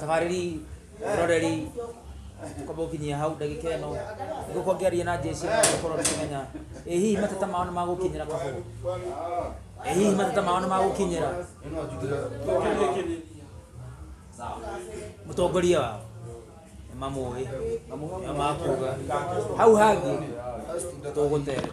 tabarĩri roreri kwamba gũkinyia hau ndagĩka ĩno ngũkorwo ngĩaria na njĩci gũkorwo ndĩkĩmenya ĩ hihi mateta mao nĩ magũkinyĩra kahũa ĩ hihi mateta mao nĩ magũkinyĩra mũtongoria wao nĩ mamũĩ nĩ makuga hau hangĩ tũgũtereta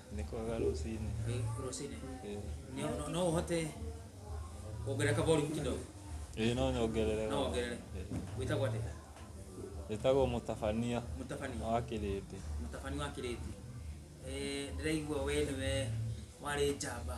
nĩ kwaga rũcinĩ Eh, rũcinĩ Eh, Nĩ- no- no ũhote kuongerera ka volume kidogo ĩĩ no nyongerere no wongerere wĩtagwo atĩa ĩtagwo mũtabania mũtabania wa kĩrĩndĩ mũtabani wa kĩrĩti ndĩraigua we nĩwe warĩ njamba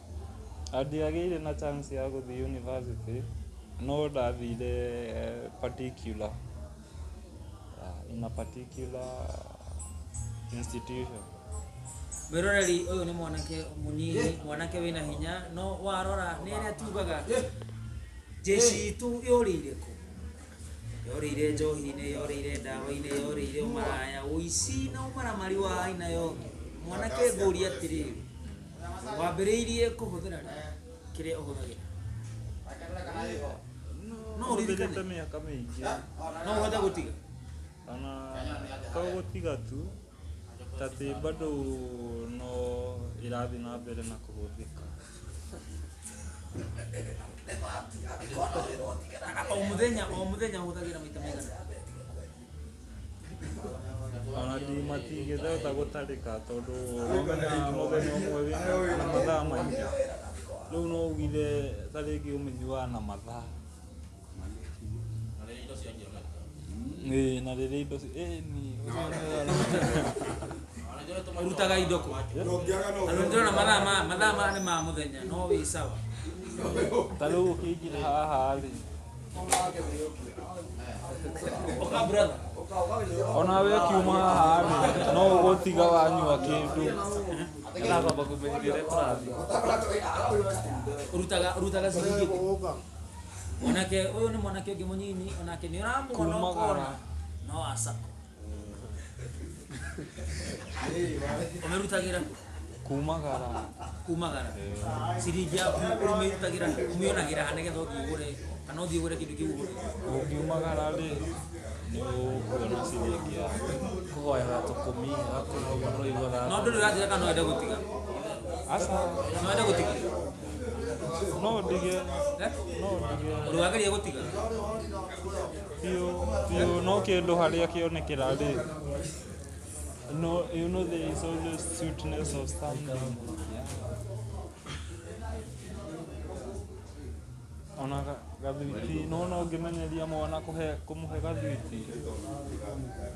Ndiagĩire na chance ya gũthiĩ yunibacĩtĩ no ndathire particular in a particular institution. Mwĩroreri ũyũ nĩ mwanake mũnyinyi, mwanake wĩna hinya, no warora nĩ arĩa tugaga njeci itũ yorĩire kũ? Yorĩire njohi-inĩ, yorĩire ndawa-inĩ, yorĩire ũmaraya, ũici na ũmaramari wa aina yothe. Mwanake ngũrie atĩrĩrĩ, wambĩrĩirie kũhũthĩra rĩ kĩrĩa ũhũthagĩra no ũririkane Hũthĩrĩte mĩaka mĩingĩ no ũhote gũtiga kana to gũtiga tu tatĩ bado no ĩrathiĩ na mbere na kũhũthĩka o mũthenya o mũthenya ũhũthagĩra maita maigana ona ti matingĩhota gũtarĩka tondũ mamenyaga mũthenya ũmwe wĩna na mathaa maingĩ rĩu no ugire ta rĩngĩ ũmenyuaga na mathaa Ĩĩ, na rĩrĩa indo ci- ĩĩ, ni- ũrutaga indo kũ Tondũ ndĩrona mathaa ma- mathaa maya nĩ ma mũthenya no wĩ sawa ta rĩu ũkĩingĩra haha rĩ ona we kiuma haha rĩ, no ũgũtiga wanyua kĩndũ urutaga urutaga ciringi onake uyu ni mwanake ungi munyinyi onake ni uramwona Kumagara. ukona no asako ũmĩrutagĩra kũ? kumagara kumagara ciringi yaku ũmĩrutagĩra kũ? ũmĩonagĩra ha nĩgetha ũthiĩ ũgũre kana ũthiĩ ũgũre kĩndũ kĩu ũgũre ũngiumagara rĩ nĩ ũkuona ciringi ya kũhoyaga tũkũmi gakũrũma tũigwa no gaka ndũrĩ ũranjĩra kana no wende gũtiga aca no wende gũtiga no ndige Eh? no ndige ũrĩwageria gũtiga biũ biũ no kĩndũ harĩa kĩonekera rĩ no you know there is always sweetness of something ona ga- gathwiti nona ũngĩmenyeria mwana kũhe kũmũhe gathwiti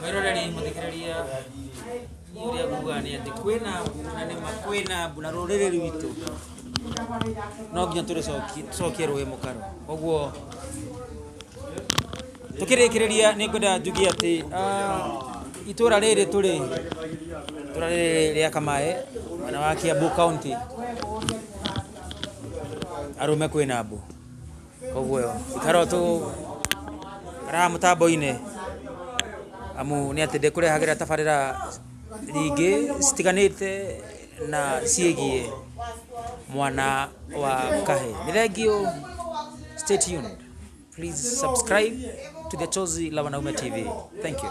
Kairo rari muthikiriria uria nguga ni ati kwina na ni ma kwina mbura ruriri rwitũ no nginya tũrĩcokie rũĩ mũkaro koguo tũkĩrĩkĩrĩria nĩ ngwenda njugi atĩ ah, itũra rĩrĩ tũrĩ itũra rĩrĩ rĩa kamae mwena wa kiambu county arũme kwĩna mbũ koguo ikara o tũkaraga mũtambo-inĩ amu nĩ atĩ ndĩkũrehagĩra tabarĩra nyingĩ citiganĩte na ciĩgiĩ mwana wa kahĩĩ. Nĩ thengiũ, stay tuned, please subscribe to the Chozi la Wanaume TV. Thank you.